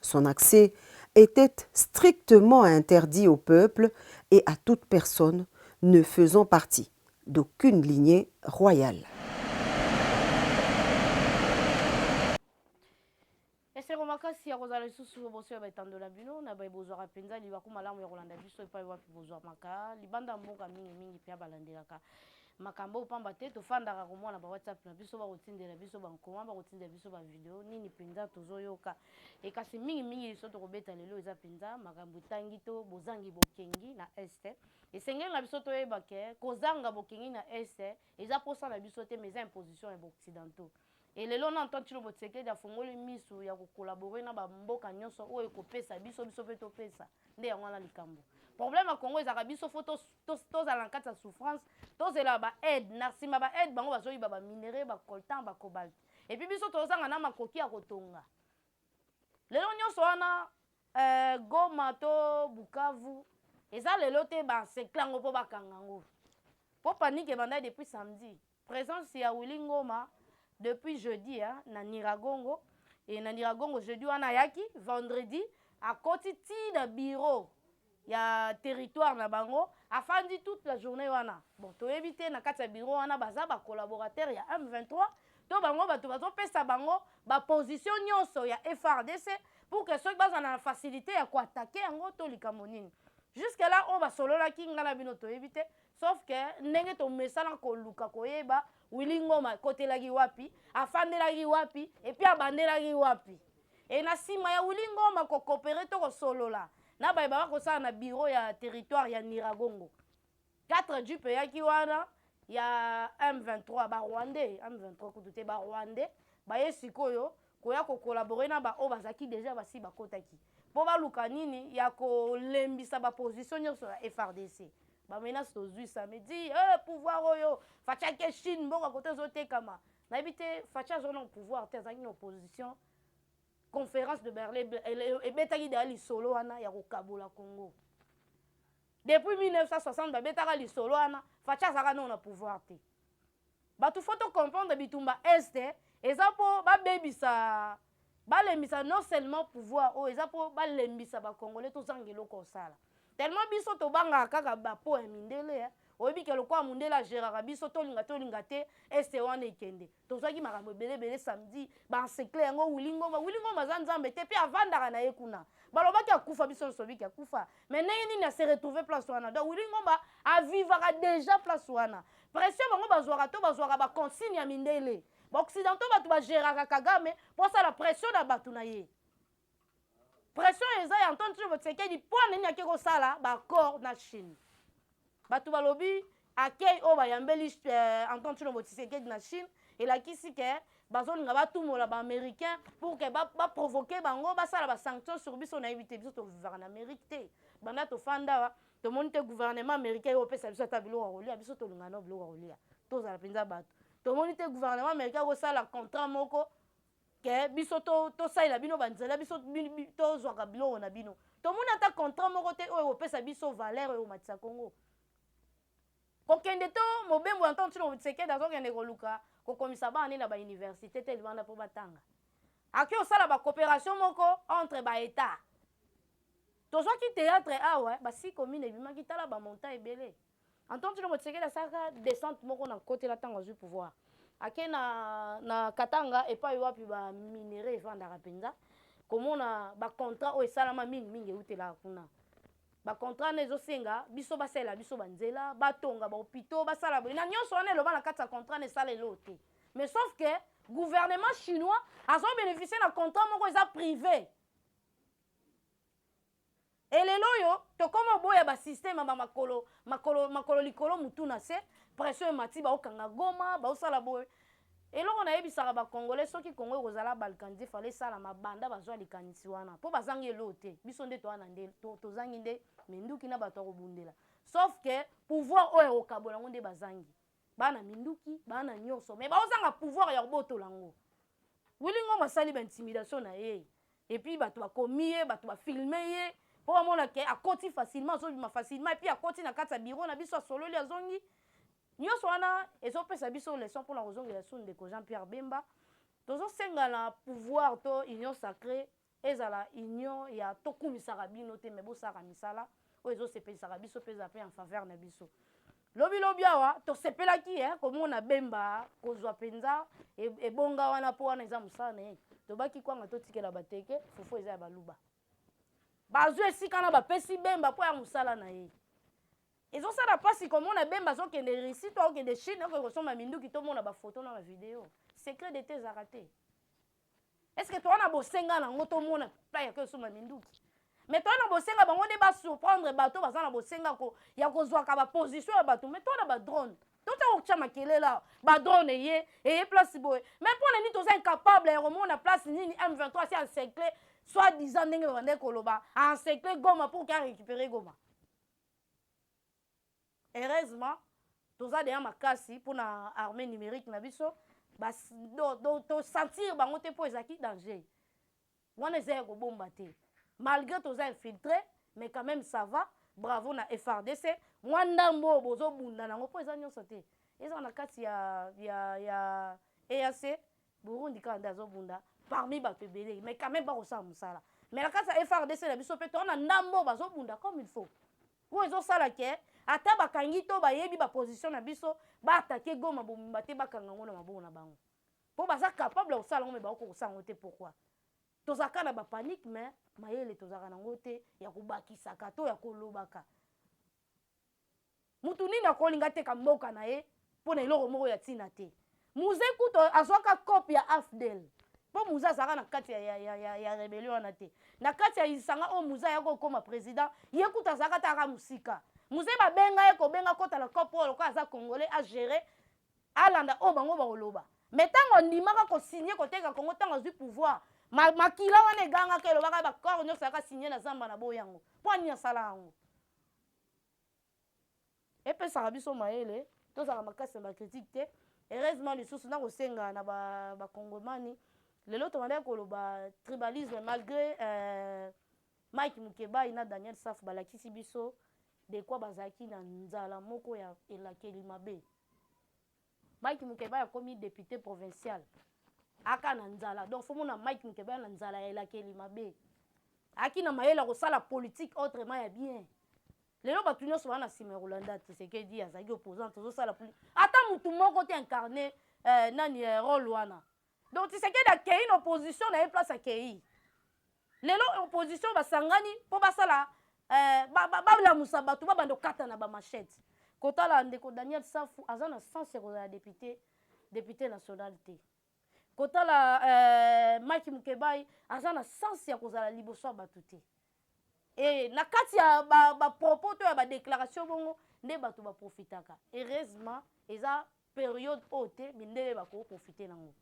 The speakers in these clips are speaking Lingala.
Son accès etait strictement interdit au peuple et à toute personne ne faisant partie d'aucune lignee royale. Esengo makasi ya kozala lisusu liboso ya baetando na bino na baye bozwaka mpenza libaku malamu ya kolanda biso epai wapi bozwamaka libanda ya mboka mingimingi mpe ya balandelaka Makambo oyo pamba te tofandaka komona ba WhatsApp na biso bakotindela biso ba nkoma, bakotindela biso ba video, nini penza tozoyoka? Et kasi mingi mingi liso tokobeta lelo eza penza makambo etangi to bozangi bokengi na Est. Esengeli na biso toyeba que kozanga bokengi na Est eza posa na biso te mais eza imposition ya ba occidentaux. Et lelo nanu Tonton Tshilombo Tshisekedi afongoli misu ya ko collaborer na ba mboka nionso oyo ekopesa biso, biso pe topesa. Nde yango wana likambo. Problème ya Congo ezalaka biso faut to to tozala na kati ya souffrance, tozela ba aides, na sima ba aides bango bazoyiba ba minerais, ba coltan, ba cobalt. Et puis biso tozanga na makoki ya kotonga. Lelo nionso wana eh, Goma to Bukavu eza lelo te ba encercler yango po bakanga yango. Po panique ebandaki depuis samedi. Presence ya Willy Ngoma depuis jeudi na Niragongo et na Niragongo jeudi wana ayaki vendredi akoti ti na bureau ya territoire na bango afandi toute la journee wana bon toyebi te na kati ya bureau wana baza ba collaborateurs ya M23 to bango batu bazo pesa bango ba positions nionso ya FARDC pour que soki bazala na facilite ya ko attaquer yango to likambo nini jusque là oyo basololaki nga na bino toyebi te Sauf que ndenge tomesana koluka koyeba Willy Ngoma akotelaki wapi, afandelaki wapi et puis abandelaki wapi. Et na sima ya Willy Ngoma ko cooperer to kosolola na baye baba kosala na bureau ya territoire ya Niragongo. 4 jeep eyaki wana ya M23 ba Rwandais, M23 kutu te ba Rwandais baye sikoyo koya ko collaborer na ba oyo bazalaki dejà basi bakotaki po baluka nini ya kolembisa ba position nionso ya FARDC ba menace tozui samedi eh pouvoir oyo Fatshi ake Chine mboka kote ezotekama nayebi te Fatshi azalaki na pouvoir te azalaki na opposition conference de Berlin ebetaki deja lisolo wana ya kokabola Congo depuis 1960 babetaka lisolo wana Fatshi azalaka nao na pouvoir te Batu faut to comprendre bitumba est eza po ba bebisa ba lembisa non seulement pouvoir oyo eza po ba lembisa ba congolais to zanga eloko ya kosala tellement biso to bangaka kaka ba po ya mindele hein oyebi ke lokola mundele a geraka biso tolinga tolinga te este wana ekende tozwaki makambo ebele ebele samedi ba ensecle yango wili ngoma wili ngoma aza nzambe te mpe avandaka na ye kuna balobaki akufa biso nsobiki akufa mais ndenge nini ase retrouve place wana donc wili ngoma avivaka deja place wana Pression bango bazuaka to bazuaka ba consigne ya mindele? Ba occidentaux batu ba geraka Kagame po asala pression na batu na ye. Pression eza ya Antoine Tshibo Tshisekedi po anani ake kosala ba accord na Chine. Batu balobi accueil oyo bayambeli euh, Antoine Tshibo Tshisekedi na Chine elakisi ke bazolinga batumola ba américain pour que ba, ba provoquer bango basala ba sanction sur biso nayebi te biso tovivaka na amérique te banda tofanda Tomoni te gouvernement americain eko pesa biso ata biloko ya kolia biso tolingana na biloko ya kolia tozala mpenza bato tomoni te gouvernement americain akosala contrat moko ke biso tosalela to bino banzela biso tozwaka biloko na bino tomoni ata contrat moko te oyo ekopesa biso valeur oyo ekomatisa kongo kokende to mobembo ya ntango ntino motisekedi azokende koluka kokomisa bana nde na bauniversité te libanda mpo batanga ake osala bacoopération moko entre baetat Tozwaki theatre awa basi commune ebimaki tala ba montant ebele Antoine Tshilombo Tshisekedi asalaka descente moko na kotela tango azui pouvoir ake na na Katanga epai wapi ba minerais evandaka penza komona ba contrat oyo esalama mingi mingi eutelaka kuna ba contrat na ezosenga biso basalela biso ba nzela batonga ba hopitaux basala boye na nyonso wana eloba na kati ya contrat na esala eloo te mais sauf que gouvernement chinois azo beneficie na contrat moko eza prive Et lelo oyo tokoma oboya ba système ba makolo makolo makolo likolo mutu na se pression emati baokanga goma baosala boye eloko nayebisaka ba congolais soki congo ekozala balkanise fale esala mabanda bazwa likanisi wana mpo bazangi eloo te biso nde toana nde to, tozangi nde minduki na bato ya kobundela sauf que pouvoir oyo ekokabola yango nde bazangi baa na minduki baa na nyonso me baozanga pouvoir ya kobotola yango wili ngoma asali baintimidation na ye epuis bato bakomi ye bato bafilme ye mpo bamona ke akoti facilement azobima facilement epuis akoti na kati ya biro na biso asololi azongi nyonso wana ezopesa biso leson mpona kozongela su ndeko jean pierre bemba tozosenga na pouvoir to union sacré Ezala union ya to kumisaka bino te mais bo salaka misala oyo ezo sepelisaka biso pe ezala pe en faveur na biso. Lobi lobi awa to sepelaki hein ko mona Bemba ko zua penza ebonga wana po wana eza musala na ye. Tobaki kwanga to tikela ba teke fufu eza ya baluba. Ba zui esika wana ba pesi Bemba po ya musala na ye. Ezo sala pasi ko mona Bemba azo kende Russie to ako kende Chine oko ke ko somba minduki to mona ba photo na ba video. Secret d'etat ezalaka te. est ce que toza na bosenga na yango tomona plan ya kosomba minduki me toza na bosenga bango nde basurprendre bato baza na bosenga ko, ya kozwaka baposition ya bato me toza na badrone totia kokotya makelele awa badrone eye eye place boye me mpo na nini toza incapable ya komona place nini m23 asi encercle soit disant ndenge babandaki koloba encercle goma pour ke arécupere goma Heureusement toza dejà makasi pona armee numerique na biso ba to sentir bango te po ezalaki danger wana eza ya kobomba te malgre toza infiltre mais quand meme ça va bravo na FARDC mwa ndambu oyo bozo bunda nango po eza nionso te ezala na kati ya ya ya EAC Burundi kaka nde azo bunda parmi batu ebele mais quand meme bako sala musala mais na kati ya FARDC na biso pe toza na ndambu oyo bazo bunda comme il faut Po ezo sala que ata ba kangi to ba yebi ba position na biso ba attaquer Goma mobimba te ba kanga ngo na maboko na bango. Po baza capable ya kosala ngo mais ba ko kosala ngo te pourquoi? Tozalaka kaka na ba panique mais mayele tozalaka na ngo te ya ko bakisaka to ya ko lobaka. Mutu nini akolinga ateka mboka na ye mpo na eloko moko ya ntina te. Muze kutu azwaka coop ya AFDL mpo Muze azalaka na kati ya, ya, ya, ya, ya rebellion wana te. Na kati ya lisanga oyo Muze ayaki kokoma president, ye kutu azalaka ata kaka mosika. Muze babenga ye kobenga kota na coop oyo lokola aza congolais a gérer alanda oyo bango bakoloba. Mais ntango andimaka kosigne koteka Congo ntango azwi pouvoir, ma, makila wana egangaka elobaka ba corps nyonso ayaka signe na zamba na boyi yango. Mpo nini asala yango? Epesaka biso mayele tozala makasi na ba critiques te. Heureusement lisusu nako senga na ba ba congomani lelo tobandaki koloba tribalisme malgre eh, Mike Mukebayi na Daniel Safu balakisi biso de quoi bazalaki na nzala moko ya elakeli mabe. Mike Mukebayi akomi depute provincial aka na nzala donc faut mona Mike Mukebayi na nzala ya elakeli mabe. Ayaki na mayele ya kosala politique autrement ya bien. Lelo batu nionso ba na sima ya kolanda Tshisekedi azalaki opposant tozo sala plus ata mutu moko te incarne euh, nani euh, role wana donc Tshisekedi akeyi na opposition na ye place akeyi lelo opposition basangani mpo basala eh, balamusa ba, ba bato babanda kokata na bamachete kotala ndeko daniel safu aza na sense ya kozala depute depute national te kotala eh, mike mukebai aza na sense ya kozala liboso ya bato te Ee, na kati ya bapropos to ya badeklaratio bongo nde bato baprofitaka. Heureusement, eza periode oyo te mindele bakoprofite nango.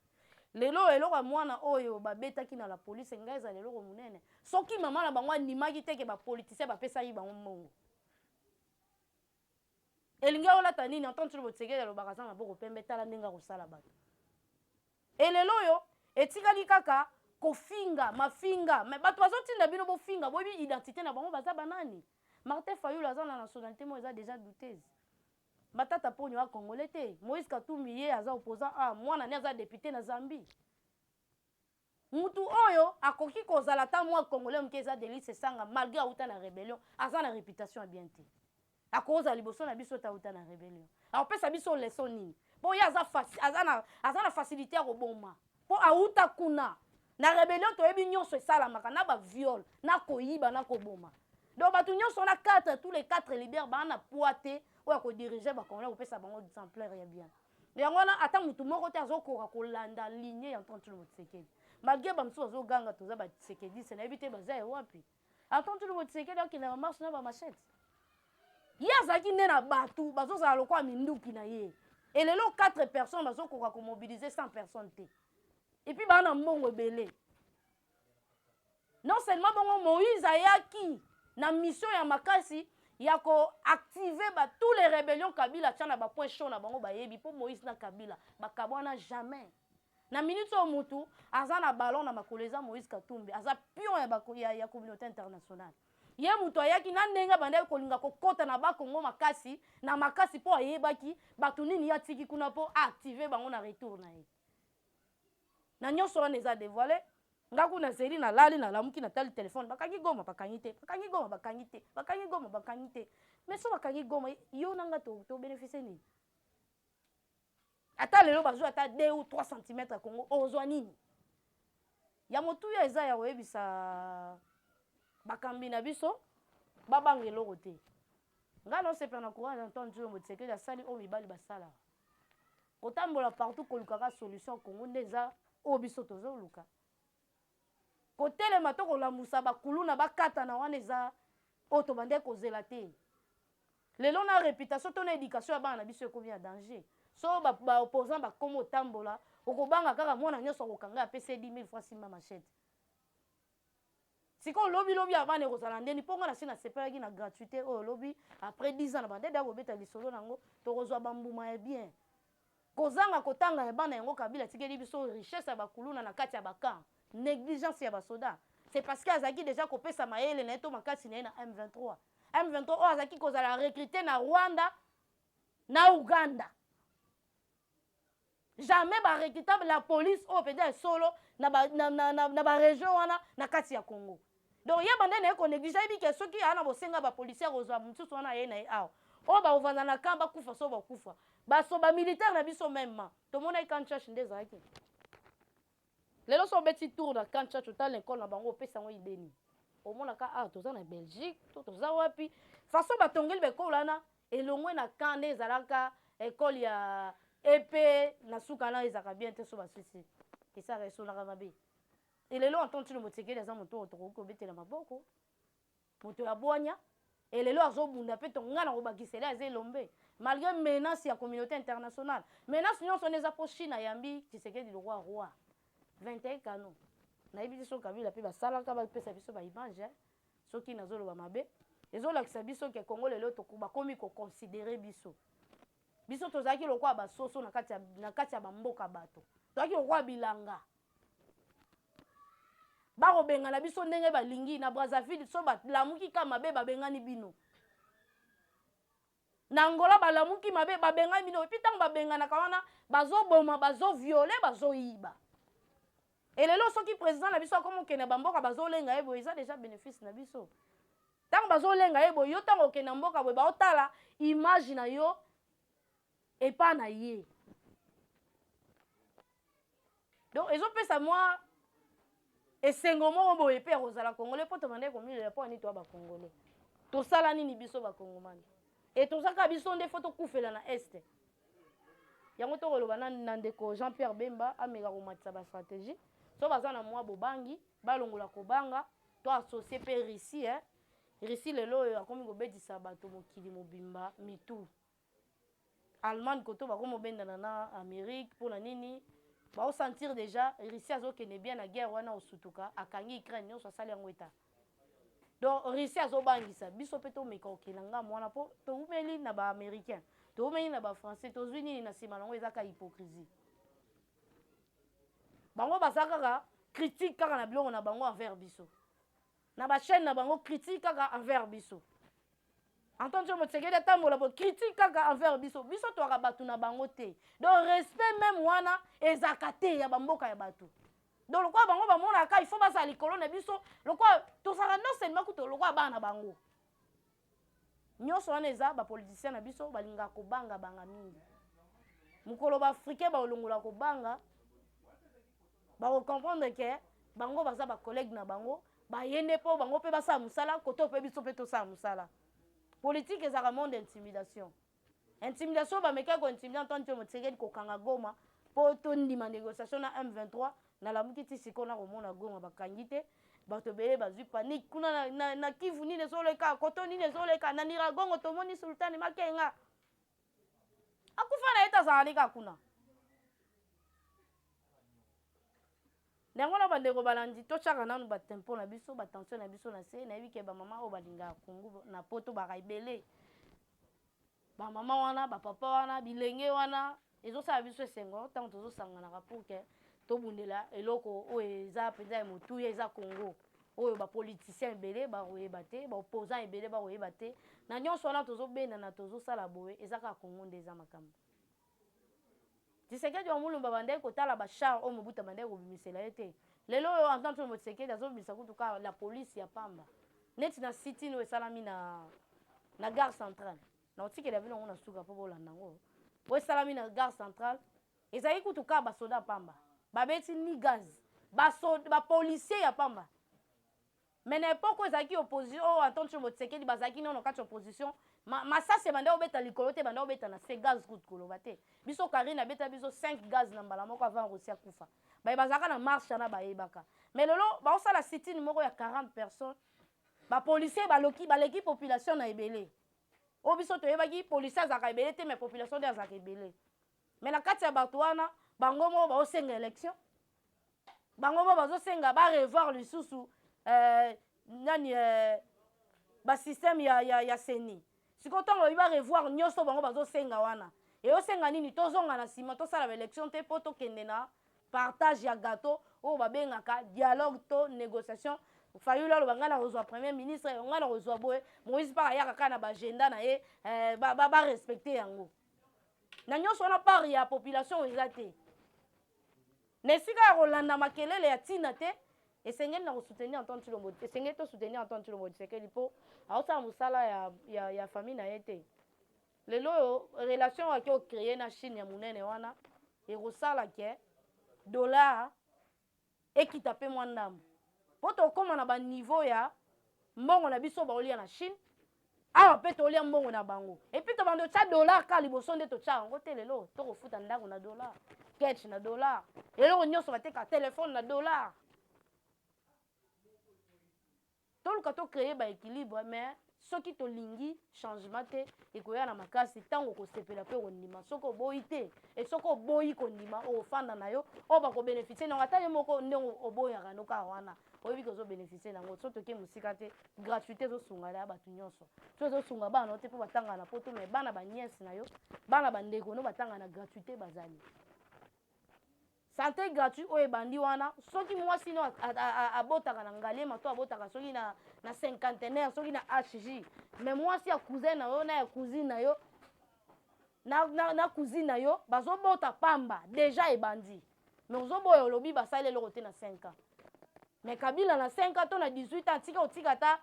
Lelo oyo eloko ya mwana oyo babetaki na la police enga ezala eloko monene soki mama na bango andimaki te ke bapolitisien bapesaki bango mbongo. Elingi olata nini Antoine Tshilombo Tshisekedi alobaka aza maboko pembe tala ndenge akosala bato. Et lelo oyo etikali kaka kofinga mafinga mais bato bazotinda bino bofinga boyebi identité na bango baza banani martin fayulu aza na nationalité moko eza déjà douteuse matata ponyo a congolais te moïse katumbi ye aza opposant a mwana ne aza depute na zambie Mutu oyo akoki kozala ata mua congolais muke eza Delly Sessanga malgre awuta na rebellion aza na reputation ya bien te akozala liboso na biso te awuta na rebellion akopesa biso leçon nini po ye aza faci aza na aza na facilite ya koboma po awuta kuna na rebellion toyebi nionso esalamaka na ba viol na koyiba na koboma donc bato nionso wana 4 tous les 4 leaders baa na poids te oyo akodirige ba congolais kopesa bango exemplaire ya bien Yango wana ata mutu moko te azokoka kolanda ligne ya Antoine Tshilombo Tshisekedi. Malgre ba mosusu bazoganga toza ba Tshisekediste nayebi te baza ya wapi. Antoine Tshilombo Tshisekedi akenda na marche na ba machette. Ye azalaki nde na batu bazozala lokola minduki na ye. Et lelo 4 personnes bazokoka komobiliser 100 personnes te. Et puis baa na mbongo ebele. Non seulement bongo Moïse ayaki na mission ya makasi ya ko activer ba tous les rébellions Kabila atia na ba points chauds na bango bayebi mpo Moïse na Kabila bakabwana jamais na minute oyo mutu aza na ballon na makolo eza Moïse Katumbi aza pion ya, bako, ya, ya communauté internationale ye moto ayaki na ndenge abandaki kolinga kokɔta na bakongo makasi na makasi mpo ayebaki bato nini ye atiki kuna mpo aactive bango na retour na ye na nyoso wana eza devoile nga kuna zeli na lali na lamuki na tali telefone bakangi goma bakangi te bakangi goma bakangi te bakangi goma bakangi te mais so bakangi goma yo na nga to, to beneficie nini ata lelo bazwa ata 2 ou 3 cm ya kongo ozwa nini ya motuya eza ya koyebisa bakambi na biso babanga eloko te ngai naosepela na courage antoine diombo tisekeli asali oyo mibali basalaka Kotambola partout koluka ka solution Congo nde eza oyo biso tozoluka? Kotelema to kolamusa ba kuluna bakatana wana eza oyo tobandaki kozela te? Lelo na reputation to na education ya bana na biso ekomi na danger? Soki ba, ba opposants bakomi otambola, okobanga kaka mwana nyonso akokanga apesi ye 10 000 francs asimba machette. Sikoyo lobi lobi ya bana ekozala ndeni po nga nasi nasepelaki na gratuite oyo lobi après 10 ans na banda deya kobeta lisolo na yango tokozua ba mbuma ya bien kozanga kotanga ya bana yango kabila atikeli biso richesse ya ba kuluna na kati ya ba camp negligence ya ba soda c'est parce que azalaki deja kopesa mayele naye to makasi naye na M23 M23 oyo azalaki kozala recrute na Rwanda na Ouganda. Jamais ba recrutable ya police oyo penza ya solo na ba, na, na, na, na ba region wana na kati ya Congo. Donc ye banda naye ko neglige ayebi ke soki aya na bosenga ba policier akozwa mususu wana aye naye awa. Oyo bakovanda na camp bakufa soko bakufa. Baso ba militaire na biso meme ma tomonaki camp Ntshashi nde ezalaki. Lelo soki obeti tour na camp tshatsho tala na ecole na bango opesa yango idee nini omonaka awa toza na belgique to toza wapi façon batongeli ba ecole wana elongwe na camp nde ezalaka ecole ya epe na suka na ezalaka bien te so basisi esaka esonaka mabe elelo anton tshilombo tsekeli aza moto oyo tokoki kobetela maboko Moto ya bwanya et lelo azo bunda pe to nga nako bakisela aza elombe malgre menace ya communaute international menace nionso wana eza po chine ayambi tshisekedi lokwa roi 21 kano nayebi te soki kabila pe basalaka ba pesa biso ba image eh soki nazo loba mabe ezo lakisa biso ke congo lelo toko bakomi ko considere biso biso tozalaki lokwa ba soso na kati ya na kati ya ba mboka bato tozalaki lokwa bilanga bakobengana biso ndenge balingi na brazzaville so balamuki ka mabe babengani bino na angola balamuki mabe babengani bino epi ntango babenganaka wana bazoboma bazoviole bazoyiba elelo soki président na biso akomi okende bamboka bazolenga ye boye eza deja bénéfice na biso ntango bazolenga ye boye yo ntango okenda mboka boye baotala image na yo epa na ye donc ezopesa mwa esengo moko boye mpe ya kozala congolais mpo tobandaki komilela mpo ani toya bacongolais tosala nini biso bacongomani e tozaka biso nde fo tokufela na este yango tokoloba na, na ndeko jean pierre bemba ameka komatisa bastratégie so baza na mwa bobangi balongola kobanga to associe mpe russie eh? russie lelo oyo akomi kobetisa bato mokili mobimba mitu Allemagne koto bako mobendana na Amerique pona nini? Bao sentir dejà Russie azo kende bien na guerre wana osutuka akangi Ukraine nionso asali yango etat donc Russie azo bangisa biso pe tomeka kokende na ngambo wana po towumeli na ba Americains towumeli na ba Français tozui nini na sima na yango eza kaka hypocrisie bango baza kaka critique kaka na biloko na bango envers biso. Na ba chaine na bango critique kaka envers biso. Antoine tshombo tshisekedi atambola bo critique kaka envers biso biso toaka batu na bango te donc respect meme wana ezaka te ya bamboka ya batu donc lokola bango bamonaka il faut bazala likolo na biso lokola tozalaka non seulement kutu lokola bana na bango Nionso wana eza ba politiciens na biso balingaka kobanga banga mingi. Mokolo ba africains bakolongola kobanga, bako comprendre que bango baza ba collègues na bango, baye nde po bango pe basala musala koto pe biso pe tosala musala. Politique ezalaka monde ya intimidation. Intimidation bamekaki ko intimider Antoine Tshombo Tshisekedi kokanga Goma po tondima negociation na M23 nalamuki ti sikoyo nakomona Goma bakangi te bato ebele bazwi panique kuna na, na, na Kivu nini ezoleka koto nini ezoleka na Niragongo tomoni Sultani Makenga akufa na ye tazala neka kuna Na yango na bandeko balandi, totiaka nanu ba tempo na biso, ba tension na biso na se. Nayebi ke ba mama oyo balingaka Congo na poto baka ebele. Ba mama wana, ba papa wana, bilenge wana, ezosala biso esengo tango tozosanganaka pour ke tobundela eloko oyo eza penza ya motuya, eza Congo. Oyo ba politiciens ebele bakoyeba te, ba opposants ebele bakoyeba te. Na nionso wana tozobendana, tozosala boye, eza kaka Congo nde eza makambo. Tshisekedi wa mulumba abandaki kotala ba chars oyo Mobutu abandaki kobimisela ye te. Lelo oyo Antoine Tshilombo Tshisekedi azobimisa kutu kaka la police ya pamba. Neti na sit-in oyo esalami na na gare centrale. Nakotikela bino yango na suka mpo bolanda yango. Oyo esalami na gare centrale ezali kutu kaka ba soda ya pamba. Babeti ni gaz. Ba soda, ba policiers ya pamba. Mais na epoque oyo ezalaki opposition oyo Antoine Tshombo Tshisekedi bazalaki nano kati opposition ma, masasi ebanda kobeta likolo te ebanda kobeta na se gaz kutu koloba te biso Carine abeta biso 5 gaz na mbala moko avant Russie akufa baye bazalaka na marche wana bayebaka mais lelo baosala sitini moko ya 40 personnes ba policiers baloki baleki population na ebele oyo biso toyebaki policier azalaka ebele te mais population nde azalaka ebele Mais na kati ya bato wana bango moko baosenga election bango moko bazosenga ba revoir lisusu euh, nani euh, basystème ya, ya, ya seni sikoyo ntango babi ba revoir nyonso bango bazosenga wana eyosenga nini tozonga na nsima tosala baelection te mpo tokende na partage ya gateau oyo babengaka dialogue to négociation fayulu aloba ngai nakozwa premier ministre ngai nakozwa boye moïse mpaka ayaka kaka na baagenda na ye eh, barespecte ba, ba yango na nyonso wana part ya population eza te na esika ya kolanda makelele ya ntina te esengeli na kosoutenir antoine tshilombo esengeli tosoutenir antoine tshilombo tshisekedi mpo aosala mosala ya, ya, ya famille na ye te lelo oyo relation oyo ake ocreye na chine ya monene wana ekosala ke dollar ekita mpe mwa ndambo mpo tokoma na ba niveau ya mbongo na biso baolia na chine awa mpe tolia mbongo na bango epuis tobanda otya dollar kaka liboso nde totya yango te lelo tokofuta ndako na dollar ketch na dollar eloko nyonso bateka telefone na dollar Toluka to creer ba equilibre mais soki tolingi changement te ekoya na makasi tango okosepela pe okondima soki oboyi te et soki oboyi kondima okofanda na yo oyo bako beneficier na yango ata yo moko ndenge oboyaka yango kaka wana oyebi ke ozo beneficier na yango soki toke mosika te gratuite ezo sunga dejà batu nionso soki ezo sunga bana na yo te po batanga na poto mais bana ba nièce na yo bana ba ndeko no batanga na gratuite bazali Sante gratuit oyo ebandi wana soki muasi no abotaka na ngaliema to abotaka soki na na cinquantenaire soki na HJ mais muasi ya cousin na yo na ya cousine na yo na, na, na cousine na yo bazobota pamba deja ebandi mais ozoboya olobi basali eloko te na 5 ans mais kabila na 5 ans to na 18 ans atika otika ata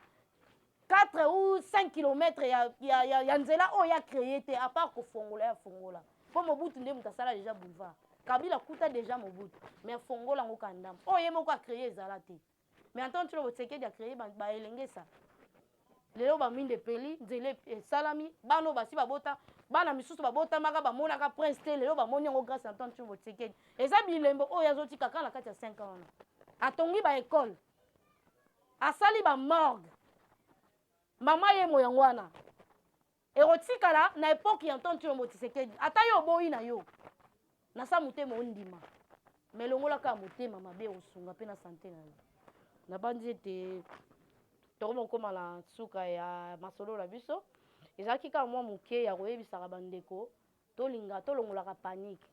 4 ou 5 kilomètre ya, ya, ya, ya nzela oyo ya creye te apart kofongola ya fongola mpo mobutu nde moto asala deja boulevard kabila kuta deja mobutu mais afongola yango kandama oyo ye moko acreye ezala te mais antan tshilo bosekedi acreye baelengesa lelo baminde epeli nzela esalami bana oyo basi babota bana misusu babotamaka bamonaka prince te lelo bamoni yango grâce na ntan tshilo bosekedi eza bilembo oyo azotika kaka na kati ya 5 ans wana atongi baekole asali ba morgue mama yemo yango wana ekotikala na epoke ya ntonto yombo tisekedi ata yo oboyi na yo na sa motema ondima me elongolaka motema mabe osunga mpe na sante na yo nabanzi ete tokoma kokoma na nsuka ya masolo na biso ezalaki kaka mwa moke ya koyebisaka bandeko tolinga tolongolaka panike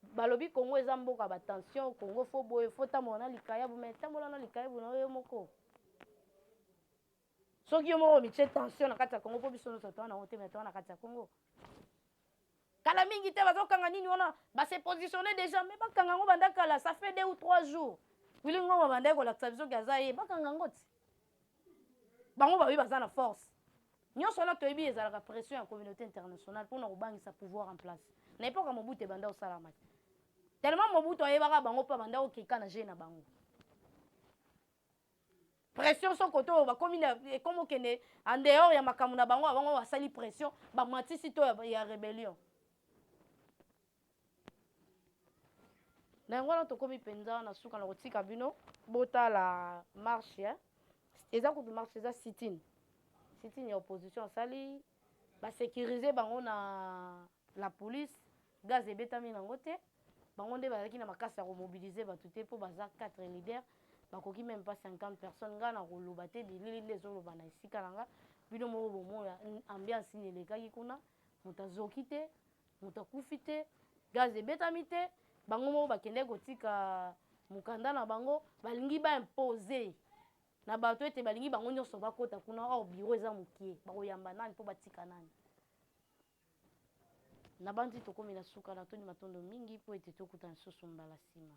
Balobi Congo eza mboka ba tension, Congo faut boye, faut otambola na likayabu, mais tambola na likayabu na yo yo moko. Soki yo moko omitie tension na kati ya Congo, mpo biso nyonso toa na yango te, mais toa na kati ya Congo. Kala mingi te bazokanga nini wana, ba se positionner déjà, mais bakanga yango banda kala, ça fait deux ou trois jours. Willy Ngoma bandaki kolakisa biso ke aza ye, bakanga yango ti. bango bayebi baza na force nyonso wana toyebi ezalaka pression ya communauté internationale mpona kobangisa pouvoir en place na epoque ya mobutu ebanda kosalama te tellement mobutu ayebaka bango mpe abanda kokeka na jeu na bango pression so kote oyo bakomi ekomi okende en dehors ya makambo na bango abango basali pression bamatisi to ya, ya rebellion Na yango wana tokomi penza na suka na kotika bino botala marche hein. Eza kutu marche eza sit-in. Sit-in ya opposition asali ba securiser bango na la police gaz ebetami na ngo te. Bango nde bazalaki na makasi ya ko mobiliser batu te po baza quatre leaders bakoki meme pas 50 personnes. Nga na koloba te bilili nde ezo loba na esika na nga bino moko bomoya ambiance nini elekaki kuna mutu azoki te. Moto akufi te, gaz ebetami te, bango moko bakendaki kotika mokanda na bango, balingi ba imposer na bato ete balingi bango nyonso bakota kuna, or bureau eza mokie, bakoyamba nani mpo batika nani? Nabanzi tokomi na suka, natondi matondo mingi mpo ete tokutana lisusu mbala sima.